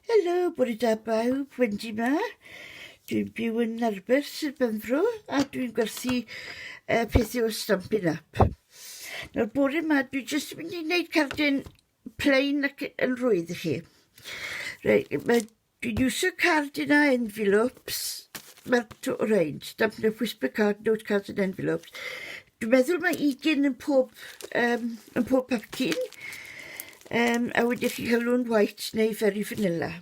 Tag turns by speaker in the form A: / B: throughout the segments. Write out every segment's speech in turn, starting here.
A: Helo, bore da bawb, Wendy ma. Dwi'n byw yn Narbeth, Sir Benfro, a dwi'n gwerthu uh, pethau o Stampin' Up. Nawr, bore ma, dwi jyst yn mynd i wneud cardyn plain ac yn rwydd i chi. Rei, mae, dwi'n iwsio cardyn a envelopes, mae'r to o rein, Stampin' Up Whisper Card, Note Cards and Envelopes. Dwi'n meddwl mae ugain yn pob yym yn pob pecyn yym a wedyn chi'n ca'l un white neu very vanilla.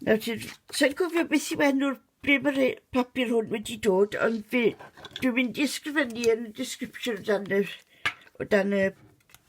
A: Nawr ti... Sai'n cofio beth yw enw'r ble ma' rhei papur hwn wedi dod ond fi dwi'n mynd i ysgrifennu yn y description o dan yr o dan y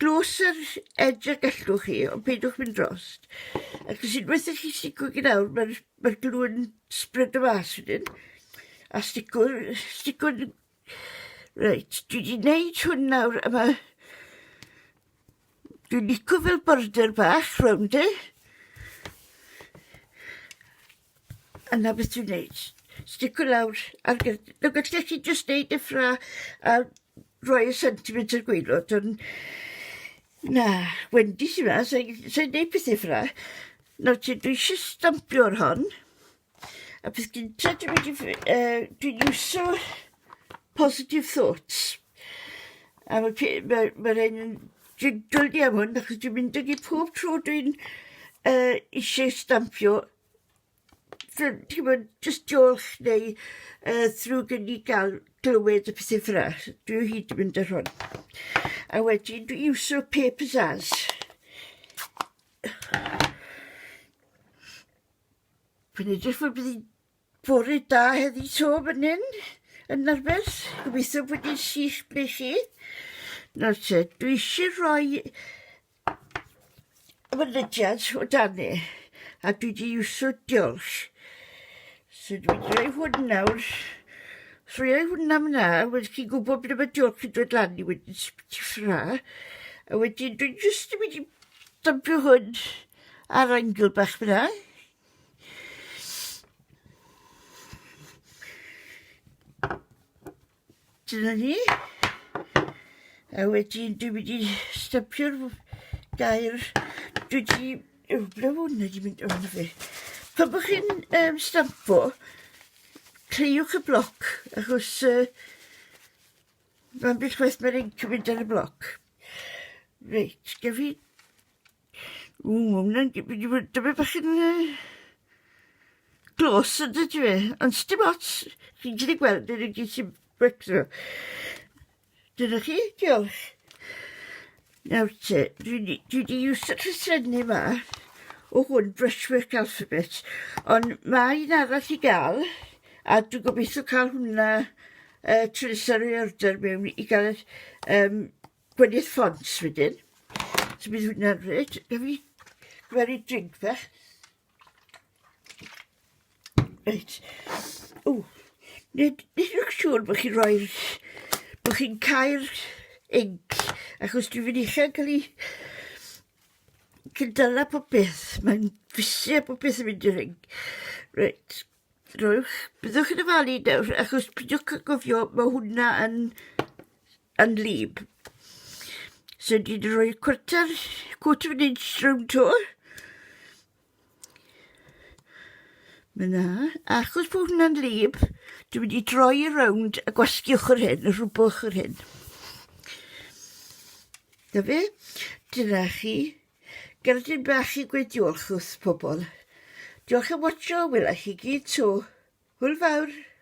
A: Dros yr edge a gallwch chi, ond peidiwch mynd drost. Ac os unwaith i chi stico gyd awr, mae'r ma glw yn spread y mas wedyn. A stico, stico... Reit, dwi wedi gwneud hwn nawr, a mae... Dwi'n lico fel border bach rownd e. A 'na beth dwi'n neud. Stico lawr ar gyf- yy beth 'lly chi jyst neud deffra a rhoi y sentiment i'r gwaelod on' na, Wendy sy 'ma sy sy'n neud pethe ffela. Nawr te dwi isie stampio ar hon a peth gynta dwi mynd i ff- yy dwi'n iwso positive thoughts. A ma' pi- ma' ma' rei' ni jiggle ni am hwn achos dwi'n mynd ag 'i pob tro dwi'n yy isie stampio fel ti wbod jyst jôlch neu yy ddrwg i ni ga'l glywed y pethe ffel 'a. Dwi o hyd yn mynd ar hon. A wedyn dwi iwsio papers as dwi'n edrych fel bydd 'i'n Bore da heddi to fan hyn yn Narbeth. Gobeithio bod yn sych ble chi. Nawr te, dwi eisiau rhoi mynydiad o danu a dwi wedi iwso diolch. So dwi wedi rhoi hwn nawr. Os rhoi hwnna mna, wedi chi'n gwybod ble mae diolch yn dod lan i wedyn sy'n beth i ffra. A wedyn dwi'n just wedi dympio hwn ar angl bach fyna. Dyna ni. A wedyn dwi mynd i stypio'r gair. Dwi di... Yw, ble hwn wedi mynd o hwnna fe? Pan bod chi'n um, stampo, cleiwch y bloc, achos uh, mae'n beth waith mae'r inc yn mynd ar y bloc. Reit, gef i Ww, ma' wnna'n g- mynd i fod dymed bach yn yy close on'd ydyw e? Ond sdim ots chi'n gallu gweld e gyd sy'n becso. Dyna chi, diolch. Nawr te, dwi 'di dwi 'di iwsio llythrenne 'ma o hwn, Brushwork Alphabet, ond ma' un arall i ga'l, a dwi gobitho ca'l hwnna yy tro nesa roi order mewn i ga'l y ll- yym Gweddill ffont wedyn. So bydd hwnna reit, gaf i gweru drink fach. Reit. O, nid, nid yw'n siŵr bod chi'n rhoi, bod chi'n cael inc, achos dwi'n mynd eich cael ei cydala popeth. Mae'n fusio popeth yn mynd i'r inc. Reit. Rwy'ch... Byddwch yn ofalu nawr achos peidiwch â gofio ma' hwnna yn yn lib. So dwi 'di rhoi cwarter quarter of an inch rownd 'to. Ma' 'na. Achos bo' hwnna'n lib dwi mynd i droi e rownd a gwasgu ochor hyn a rhwbo ochor hyn. 'Na fe. Dyna chi Gerdyn bach i gweud diolch wrth pobol. Diolch am watsio, wela i chi gyd 'to. Hwyl fawr!